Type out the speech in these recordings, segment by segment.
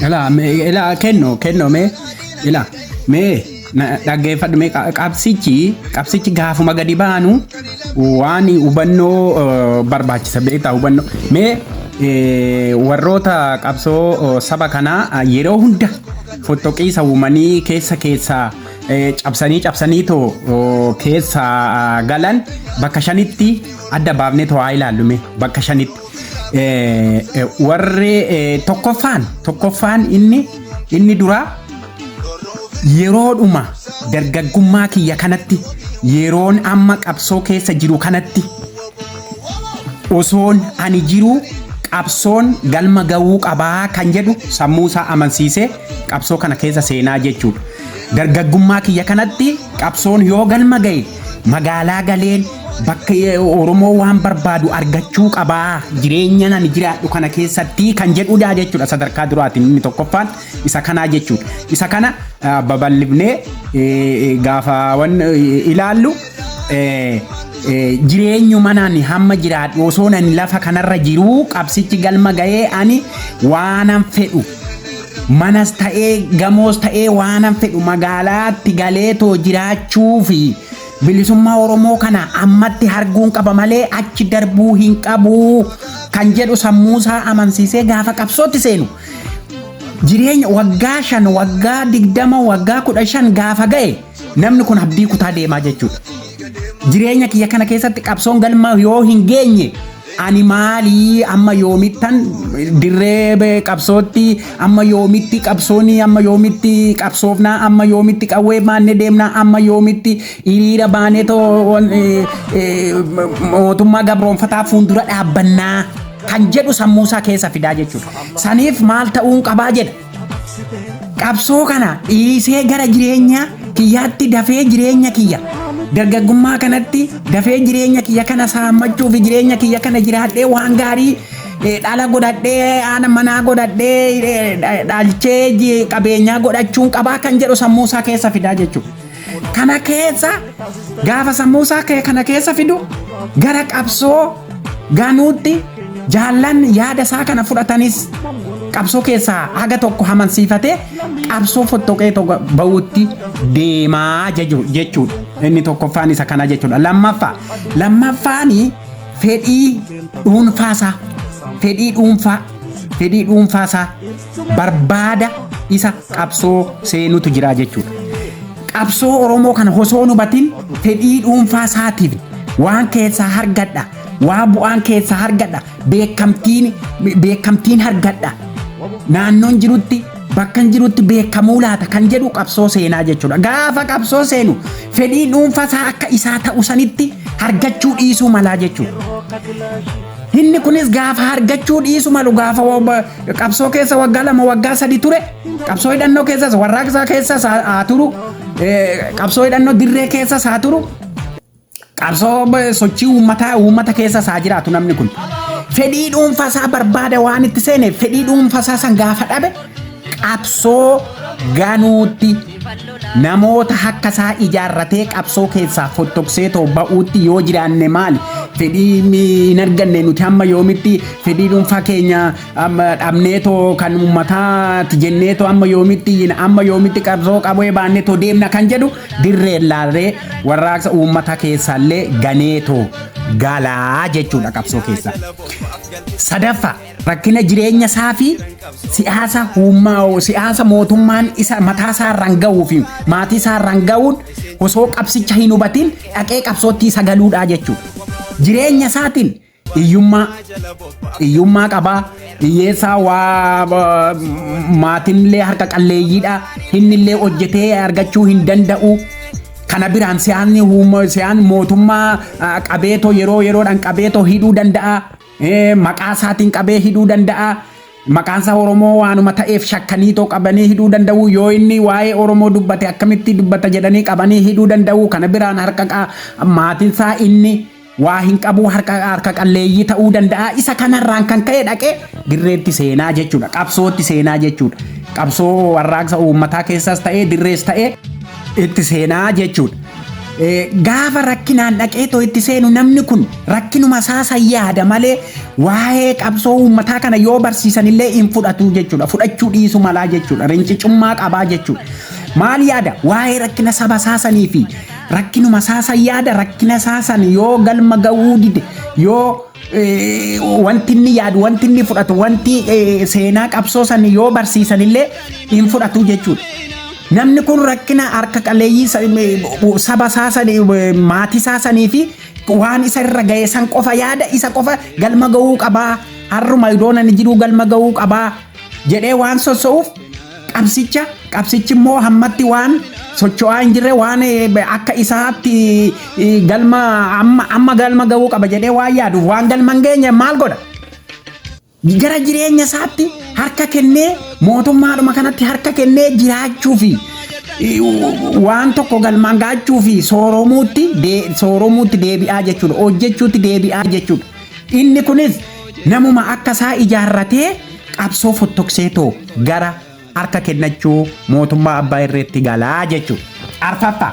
Ilaa mee ilaa kenno kenno mee ilaa mee na- dhaggeeffadhu mee qa- qabsichi qabsichi gaafuma gadi baanu waan hubannoo eh, barbaachisa beektaa hubannoo mee eh, warroota qabsoo eh, saba kanaa eh, yeroo hunda fottoqiisa uumanii keessa keessaa eh, cabsanii cabsanii too oh, keessa ah, galan bakka shanitti adda baafnee too haa ilaallu mee bakka shanitti. Warri tokkoffaan tokkoffaan inni inni duraa yeroodhuma dargaggummaa kiyya kanatti yeroon amma qabsoo keessa jiru kanatti osoon ani jiru qabsoon galma ga'uu qabaa kan jedhu sammuu isaa amansiisee qabsoo kana keessa seenaa jechuudha. Dargaggummaa kiyya kanatti qabsoon yoo galma ga'e Magaalaa galeen bakka eh, Oromoo waan barbaadu argachuu qabaa jireenya nani jiraadhu kana keessatti kan jedhudha jechuudha sadarkaa duraatiin inni tokkoffaan isa kanaa jechuudha. Isa kana ah, babal'ifnee eh, eh, gaafa wan eh, ilaallu eh, eh, jireenyuma nani hamma jiraadhu osoo nani lafa kanarra jiruu qabsichi galma ga'ee ani waanan fedhu Manas ta'ee gamoos ta'ee waanan fedhu magaalaatti galeetoo jiraachuu fi bilisummaa Oromoo kana ammatti harguun qaba malee achi darbuu hin qabu kan jedhu sammuusaa amansiisee gaafa qabsootti seenu jireenya waggaa shan waggaa digdama waggaa kudha shan gaafa ga'e namni kun abdii kutaa deemaa jechuudha. Jireenya kiyya kana keessatti qabsoon galma yoo hin geenye Ani maalii amma yoomittan dirree qabsootti amma yoomitti qabsooni amma yoomitti qabsoofnaa amma yoomitti qawwee baannee deemnaa amma yoomitti hiriira baanee too wan- eh, eh, mootummaa gabroonfataa fuuldura dhaabbannaa kan jedhu sammuusaa keessa fidaa jechuudha. Saniif maal ta'uun qabaa jedha. Qabsoo kana dhiisee gara jireenya kiyyaatti dafee jireenya kiyya dargaggummaa kanatti dafee jireenya kiyya kana saammachuu fi jireenya kiyya kana jiraadhee waan gaarii eh, dhala godhadhee haadha manaa godhadhee eh, dha- dhalchee ji- qabeenyaa godhachuun qabaa kan jedhu sammuu isaa keessa fidaa jechuudha. Kana keessa gaafa sammuu isaa kee kana keessa fidu gara qabsoo ganuutti jaallan yaada isaa kana fudhatanis qabsoo keessaa haga tokko hamansiifatee qabsoo fottoqee tokko ba'uutti deemaa jechu- jechuudha. Inni tokkoffaan isa kana jechuudha. Lammaffaa lammaffaan fedhii dhuunfaasaa fedhii dhuunfaa fedhii dhuunfaasaa barbaada isa qabsoo seenutu jira jechuudha. Qabsoo Oromoo kana osoo hin hubatin fedhii dhuunfaa isaatiif waan keessaa hargadha, waan bu'aan keessaa hargadha, beekamtiin beekamtiin hargadha. Naannoon jirutti bakka hin jirutti beekamuu laata kan jedhu qabsoo seenaa jechuudha. Gaafa qabsoo seenu fedhii dhuunfaa isaa akka isaa ta'u sanitti hargachuu dhiisuu malaa jechuudha. Inni kunis gaafa hargachuu dhiisu malu gaafa qabsoo keessa waggaa lama waggaa sadi ture qabsoo hidhannoo keessas warraaqsaa keessas haa haa turu eh, qabsoo hidhannoo dirree keessas haa turu qabsoo eh, sochii uummataa uummata keessas haa jiraatu namni kun fedhii dhuunfasaa barbaada waan itti seeneef fedhii dhuunfasaa san gaafa dhabe qabsoo ganuutti Namoota hakka isaa ijaarratee qabsoo keessaa fottoksee too ba'uutti yoo jiraanne maali? Fedhii mi- hin arganne nuti hamma yoomitti fedhii dhuunfaa keenya amma dhabnee too kan uummataati jennee too amma yoomitti iyyina amma yoomitti qabsoo qabee baannee too deemna kan jedhu dirree laallee warraaqsa uummata keessaallee ganee too galaa jechuudha qabsoo keessaa. Sadaffaa Rakkina jireenya isaa fi siyaasa uummaa'u siyaasa mootummaan isa mataa isaa irraan ga'uu fi maatii isaa irraan ga'uun osoo qabsicha hin hubatiin dhaqee qabsootti isa galuudhaa jechuudha. Jireenya isaatiin hiyyummaa hiyyummaa qabaa hiyyeessaa waa ba- maatinillee harka qalleeyyiidha innillee hojjetee argachuu hin danda'u. Kana biraan siyaasni uumma- siyaan mootummaa ah, qabeetoo yeroo yeroodhaan qabeetoo hidhuu danda'a. Ee, maqaa isaatiin qabee hidhuu danda'a. Maqaan isaa Oromoo waanuma ta'eef shakkanii too qabanii hidhuu danda'u. Yoo inni waa'ee Oromoo dubbate akkamitti dubbata jedhanii qabanii hidhuu danda'u. Kana biraan harka qa- maatiin isaa inni waa hin qabu harka harka qalleeyyii ta'uu danda'a. Isa kanarraan kan ka'e dhaqee dirreetti seenaa jechuudha. Qabsootti seenaa jechuudha. Qabsoo warraaqsa uummataa keessas ta'ee dirrees ta'ee itti seenaa jechuudha. Eh, Gaafa rakkinaan dhaqee too itti seenu namni kun rakkinuma isaa san yaada malee waa'ee qabsoo uummataa kana yoo barsiisanillee hin fudhatu jechuudha. Fudhachuu dhiisu malaa jechuudha. Rincicummaa qabaa jechuudha. Maal yaada? Waa'ee rakkina saba isaa sanii fi rakkinuma isaa san yaada rakkina isaa san yoo galma ga'uu dide yoo eh, wanti inni yaadu wanti inni fudhatu wanti eh, seenaa qabsoo san yoo barsiisan illee hin fudhatu jechuudha. Namni kun rakkina harka qaleeyyii sa- eh, saba isaa sanii eh, maatii isaa sanii fi waan isa irra ga'e san qofa yaada isa qofa galma ga'uu qabaa harruma idoon ani jiruu galma ga'uu qabaa jedhee waan sosso'uuf qabsicha qabsichi immoo hammatti waan socho'aa hin jirre waan akka isaatti galma amma amma galma ga'uu qaba jedhee waan yaaduuf waan galma hin geenye maal godha gara jireenya isaatti harka kennee mootummaadhuma kanatti harka kennee jiraachuu fi waan tokko galmaan ga'achuu fi sooromuutti sooromuutti deebi'aa jechuudha hojjechuutti deebi'aa jechuudha. Inni kunis namuma akka isaa ijaarratee qabsoo fottokseetoo gara harka kennachuu mootummaa abbaa irreetti galaa jechuu. Arfaffaa.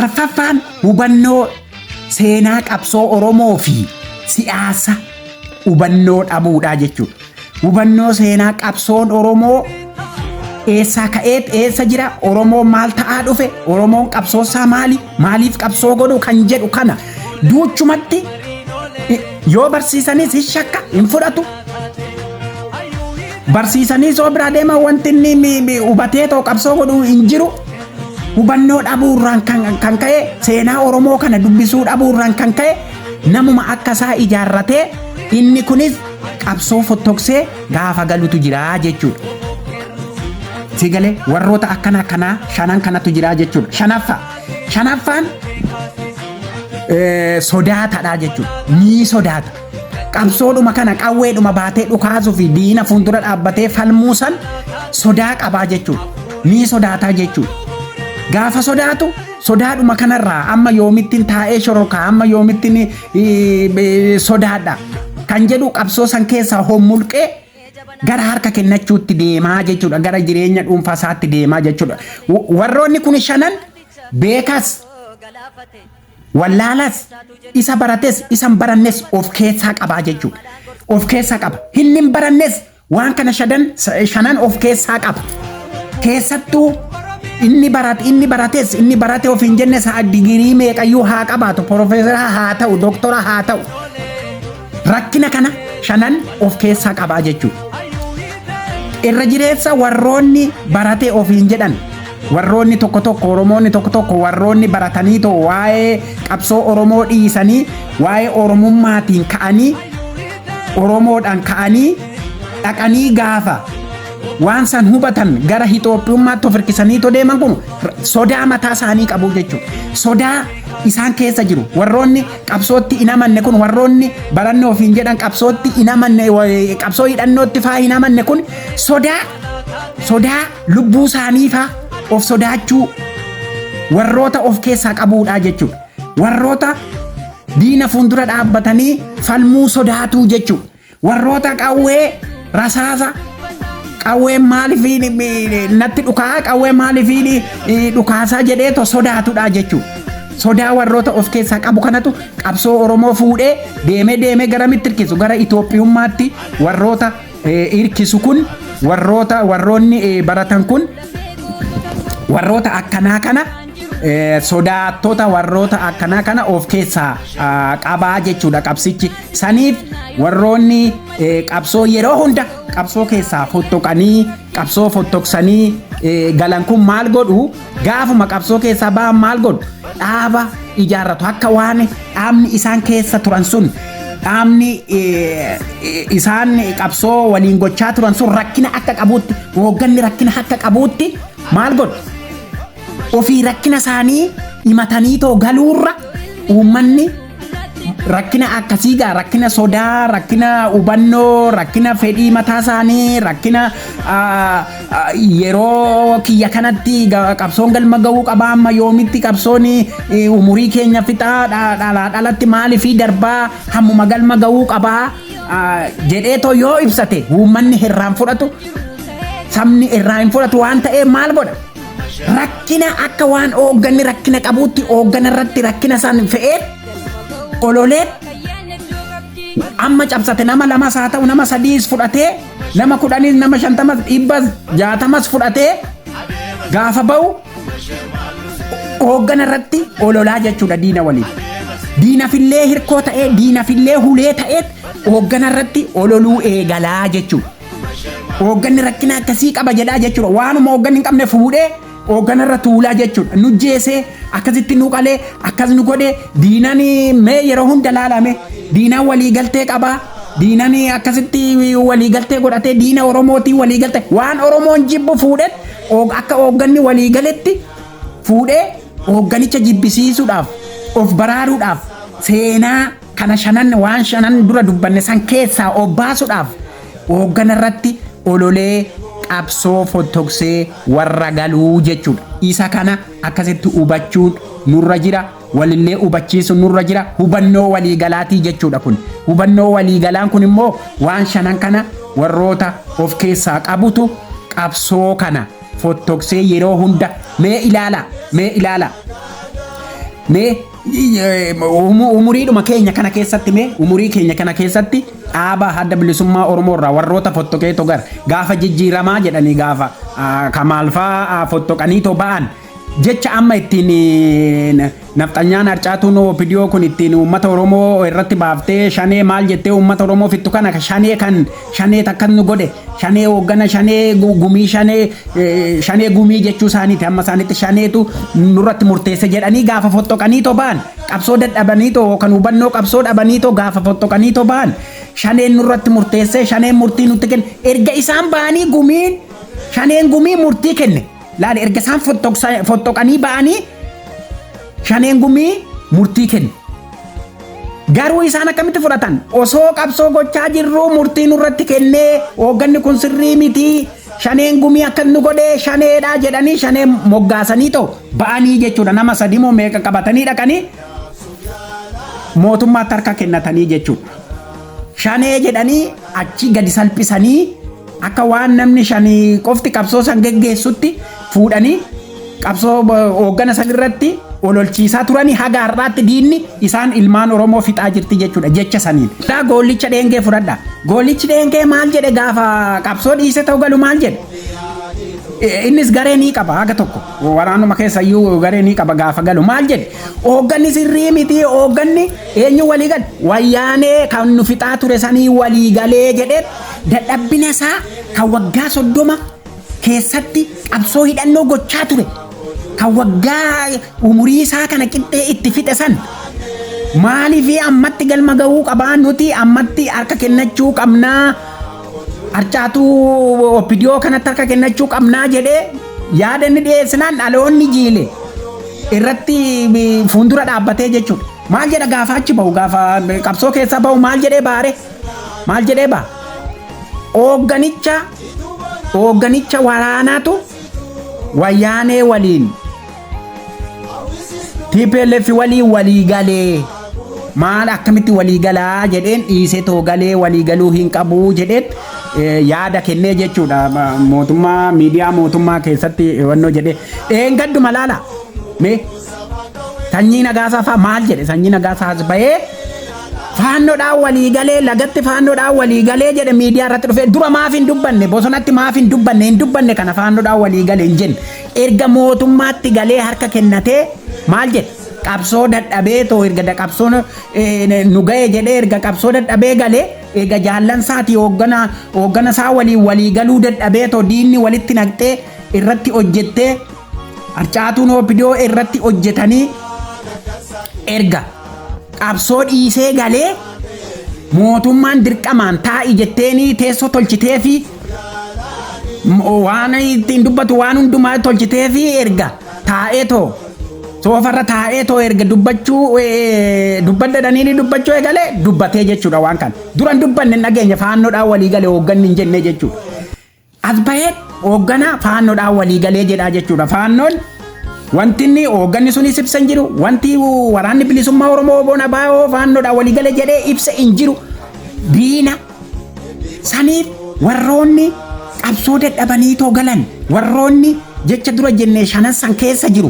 Arfaffaan hubannoo seenaa qabsoo Oromoo fi siyaasa hubannoo dhabuudhaa jechuudha. Hubannoo seenaa qabsoon Oromoo eessaa ka'eet eessa jira Oromoon maal ta'aa dhufe Oromoon qabsoosaa maali maaliif qabsoo godhu kan jedhu kana duuchumatti i- yoo barsiisanis hin shakka hin fudhatu barsiisanii soo biraa deema wanti inni mi- mi- hubatee too qabsoo godhu hin jiru hubannoo dhabuurraan kan, kan ka'e seenaa oromoo kana dubbisuu dhabuurraan kan ka'e namuma akka isaa ijaarratee inni kunis qabsoo fottoksee gaafa galutu jira jechuudha. Si galee warroota akkana akkanaa shanan kanatu jira jechuudha. Shanaffaa. Shanaffaan eh, sodaatadha jechuudha. Ni sodaata. Qabsoodhuma kana qawweedhuma baatee dhukaasuu fi diina fuuldura dhaabbatee falmuu san sodaa qabaa jechuudha. Ni sodaataa jechuudha. Gaafa sodaatu sodaadhuma kanarraa amma yoomittiin taa'ee shorokaa amma yoomittiin sodaadha kan jedhu qabsoo san keessaa hommulqee gara harka kennachuutti deemaa jechuudha gara jireenya dhuunfaa isaatti deemaa jechuudha warroonni kun shanan beekas wallaalas isa barates isan barannes of keessaa qabaa jechuudha of keessaa qaba hinnin barannes Waan kana shadan shanan of keessaa qaba. Keessattuu inni barate inni barates inni barate of hin jenne sa'a digirii meeqayyuu haa qabaatu profeesara haa ta'u doktora haa ta'u rakkina kana shanan of keessaa qabaa jechuudha. Irra jireessa warroonni baratee of hin jedhan warroonni tokko tokko oromoonni tokko tokko warroonni baratanii too waa'ee qabsoo oromoo dhiisanii waa'ee oromummaatiin ka'anii Oromoodhaan ka'anii dhaqanii gaafa waan san hubatan gara Itoophiyummaatti of hirkisanii too deeman kun sodaa mataa isaanii qabu jechuudha. Sodaa isaan keessa jiru. Warroonni qabsootti hin amanne kun warroonni baranne ofiin jedhan qabsootti hin amanne qabsoo hidhannootti faa hin amanne kun sodaa sodaa lubbuu isaanii faa of sodaachuu warroota of keessaa qabuudhaa jechuudha. Warroota diina fuuldura dhaabbatanii falmuu sodaatuu jechuudha. Warroota qawwee rasaasa qawween maaliif natti dhukaa qawwee maaliif dhukaasaa jedhee to sodaatudha jechuudha. Sodaa warroota of keessaa qabu kanatu qabsoo Oromoo fuudhee deemee deemee gara mittirkisu gara Itoophiyummaatti warroota hirkisu kun warroota warroonni baratan kun warroota akkanaa kana sodaattota warroota akkanaa kana of keessaa qabaa jechuudha qabsichi saniif warroonni qabsoo yeroo hunda qabsoo keessaa fottoqanii qabsoo fottoqsanii galan kun maal godhu Gaafuma qabsoo keessaa ba'an maal godhu? Dhaaba ijaarratu akka waan dhaabni isaan keessa turan sun dhaabni eh, eh, isaan qabsoo waliin gochaa turan sun rakkina akka qabuutti hoogganni rakkina akka qabuutti maal godhu? Ofii rakkina isaanii himatanii too galuurra uummanni rakkina akkasii gaa rakkina sodaa rakkina hubannoo rakkina fedhii mataa isaanii rakkina ah, ah, yeroo kiyya kanatti ga- qabsoon galma ga'uu qaba amma yoomitti qabsoon eh, umurii keenya fixaa dha- dhalaa dhalatti maalii fi darbaa hammuma galma ga'uu qaba ah, jedhee too yoo ibsate uummanni irraan fudhatu sabni irraa hin fudhatu waan ta'eef maal godha Rakkina akka waan hoogganni rakkina qabuutti hooggana irratti rakkina san fe'ee ololee amma cabsate nama lamas haa ta'u nama sadiis fudhatee nama kudhanis nama shantamas dhibbas jaatamas fudhatee gaafa ba'u hooggana irratti ololaa jechuudha diina waliin. Diinafillee hirkoo ta'ee diinafillee hulee ta'ee hooggana irratti ololuu eegalaa jechuudha. Hoogganni rakkina akkasii qaba jedhaa jechuudha. Waanuma hoogganni hin qabne fuudhee hooggana irra tuulaa jechuudha. Nu jeesee akkasitti nu qalee akkas nu godhee diinan mee yeroo hunda laalame diinaan walii galtee qabaa. Diinan akkasitti walii galtee godhatee diina Oromootiin walii galtee waan Oromoon jibbu fuudhee akka hoogganni walii galetti fuudhee hoogganicha jibbisiisuudhaaf of baraaruudhaaf seenaa Kana shanan waan shanan dura dubbanne san keessaa of baasuudhaaf hooggana irratti ololee qabsoo fottoksee warra galuu jechuudha. Isa kana akkasitti hubachuun nurra jira. Walillee hubachiisuun nurra jira. Hubannoo waliigalaatii jechuudha kun. Hubannoo waliigalaan kun immoo waan shanan kana warroota of keessaa qabutu qabsoo kana fottoksee yeroo hunda mee ilaala mee ilaala mee Umuriidhuma keenya kana keessatti mee umurii keenya kana keessatti dhaaba adda bilisummaa Oromoo irraa warroota fottoqee togar gaafa jijjiiramaa jedhanii gaafa kamaalfaa fottoqanii too ba'an jecha amma ittiin nafxanyaan harcaatuun opidiyoo kun ittiin uummata Oromoo irratti baaftee shanee maal jettee uummata Oromoo fittu kana shanee kan Shaneet akkas nu godhe shanee hooggana shanee gu- gumii shanee eh, shanee gumii jechuu isaaniiti amma isaanitti shaneetu nurratti murteesse jedhanii gaafa foxxoqanii too ba'an qabsoo dadhabanii too kan hubannoo qabsoo dhabanii too gaafa foxxoqanii too ba'an shaneen nurratti murteesse shaneen murtii nutti kenne erga isaan ba'anii gumiin shaneen gumii murtii kenne Laali erga isaan fottoqanii ba'anii shaneen gumii murtii kennu. Garuu isaan akkamitti fudhatan? Osoo qabsoo gochaa jirruu murtii nurratti kennee hoogganni kun sirrii miti shaneen gumii akkas nu godhee shaneedha jedhanii shanee moggaasanii too ba'anii jechuudha nama sadii moo meeqa qabatanii dhaqanii mootummaatti harka kennatanii jechuudha. Shanee jedhanii achi gadi salphisanii Akka waan namni shanii qofti qabsoo san geggeessutti fuudhanii qabsoo bo- hooggana san irratti ololchiisaa turanii haga har'aatti diinni isaan ilmaan Oromoo fixaa jirti jechuudha jecha saniin. Daa goollicha dheengee fudhadha. Goollichi dheengee maal jedhe gaafa qabsoo dhiise ta'u galu maal jedhe? Eh, Innis garee ni qaba haga tokko waraanuma keessa iyyuu garee ni qaba gaafa galu maal jedhe hoogganni sirrii miti hoogganni eenyu walii gale wayyaanee kan nu fixaa ture sanii walii galee jedhee Dadhabbina isaa kan waggaa soddoma keessatti qabsoo hidhannoo gochaa ture kan waggaa umurii isaa kana qixxee itti fixe san maaliif ammatti galma ga'uu qabaa nuti ammatti harka kennachuu qabnaa harcaatuu oppidiyoo kanatti harka kennachuu qabnaa jedhee yaada inni dhiyeessinaan dhaloonni jiile irratti fuundura dhaabbatee jechuudha. Maal jedha gaafa achi bahu gaafa qabsoo keessa bahu maal jedhee baare Maal jedhee baa? Hoogganicha hoogganicha waraanaatu wayyaanee waliin TPLF waliin walii galee maal akkamitti walii galaa jedheen dhiisee too galee walii galuu hin qabu jedheen eh, yaada kennee jechuudha Ma- mootummaa miidiyaa mootummaa keessatti wannoo jedhee dheengadduma laala mee Sanyii Nagaasaa faa maal jedhe? Sanyii Nagaasaa as bahee faannoodhaan walii galee lagatti faannoodhaan walii galee jedhe miidiyaa irratti dhufee dura maaf hin dubbanne bosonatti maaf hin dubbanne hin dubbanne kana faannoodhaan walii galee hin jenne erga mootummaatti galee harka kennatee maal jedhe qabsoo dadhabee too erga da- qabsoon eh, nu ga'e jedhee erga qabsoo dadhabee galee eega jaallan isaati hooggana hooggana isaa waliin walii galuu dadhabee too diinni walitti naqxee irratti hojjettee harcaatuun OPDO irratti hojjetanii erga qabsoo dhiisee galee mootummaan dirqamaan taa'i jetteenii teessoo tolchitee fi waan ittiin dubbatu waan hundumaa tolchitee fi erga taa'ee too soofarra taa'ee too erga dubbachuu dubbadhadhanii ni dubbachuu eegale dubbatee jechuudha waan kana duran dubbanne hin dhageenye faannoodhaan walii gale hoogganni hin jenne jechuudha. Asfayeen hoogganaa faannoodhaan walii galee jedhaa jechuudha. Faannoon wanti inni hoogganni sunis ibsa hin jiru. Wanti waraanni bilisummaa Oromoo Oboon Abaa'oo faannoodhaan walii galee jedhee ibsa hin jiru. Diina saniif warroonni qabsoo dadhabanii too galan warroonni jecha dura jennee shanan san keessa jiru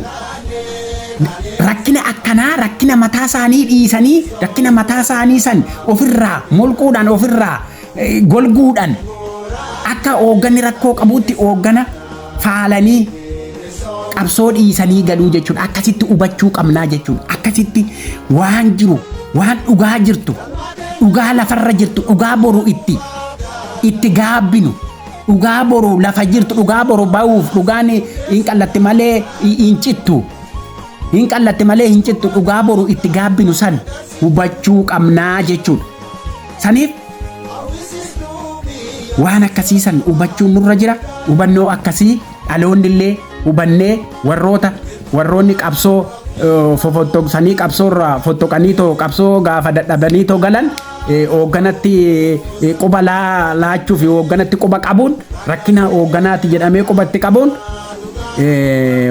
rakkina akkanaa rakkina mataa isaanii dhiisanii rakkina mataa isaanii san ofirraa molquudhaan ofirraa golguudhaan akka hoogganni rakkoo qabuutti hooggana faalanii qabsoo dhiisanii galuu jechuudha. Akkasitti hubachuu qabnaa jechuudha. Akkasitti waan jiru, waan dhugaa jirtu, dhugaa lafarra jirtu, dhugaa boru itti itti gaabbinu. Dhugaa boru lafa jirtu, dhugaa boru ba'uuf, dhugaan hin qallatti malee hin cittu. Hin qallatti malee hin cittu, dhugaa boru itti gaabbinu san hubachuu qabnaa jechuudha. Saniif waan akkasii san hubachuun nurra jira. Hubannoo akkasii dhaloonni illee hubannee warroota warroonni qabsoo eh, fofottoqsanii qabsoo irraa fottoqanii too qabsoo gaafa dadhabanii too galan eh, hoogganatti eh, quba laa- laachuu fi hoogganatti quba qabuun rakkina hoogganaati jedhamee qubatti qabuun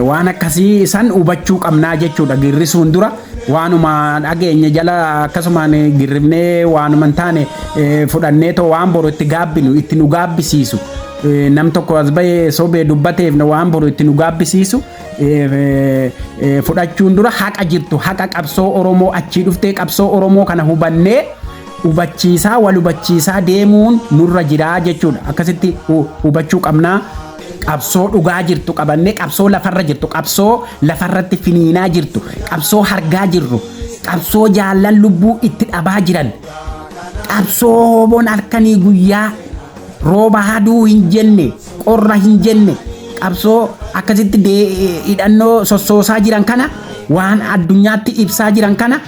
waan akkasii san hubachuu qabnaa jechuudha girrisuun dura waanuma dhageenye jala akkasumaan girrifnee waanuma hin taane fudhannee too waan boru itti gaabbinu itti nu gaabbisiisu nam tokko as bahee sobee dubbateef waan boru itti nu gaabbisiisu fudhachuun dura haqa jirtu haqa qabsoo oromoo achii dhuftee qabsoo oromoo kana hubannee hubachiisaa wal hubachiisaa deemuun nurra jiraa jechuudha akkasitti hubachuu qabnaa Qabsoo dhugaa jirtu qabannee, qabsoo lafarra jirtu, qabsoo lafarratti finiinaa jirtu, qabsoo hargaa jirru, qabsoo jaallan lubbuu itti dhabaa jiran, qabsoo hooboon halkanii guyyaa rooba haduu hin jenne, qorra hin jenne, qabsoo akkasitti dee- hidhannoo sossoosaa jiran kana waan addunyaatti ibsaa jiran kana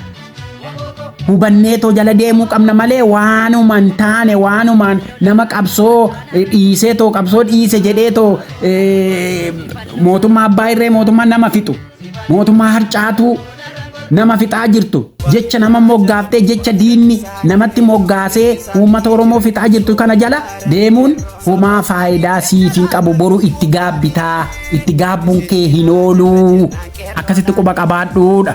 hubanneetoo jala deemuu qabna malee waanuma hin taane waanumaan nama qabsoo eh, dhiisee too qabsoo dhiise jedhee too eh, mootummaa abbaa irree mootummaa nama fixu mootummaa harcaatuu nama fixaa jirtu jecha nama moggaaftee jecha diinni namatti moggaasee uummata oromoo fixaa jirtu kana jala deemuun homaa faayidaa siif hin qabu boru itti gaabbitaa Itti gaabbuun kee hin ooluu. Akkasitti quba qabaadhuudha.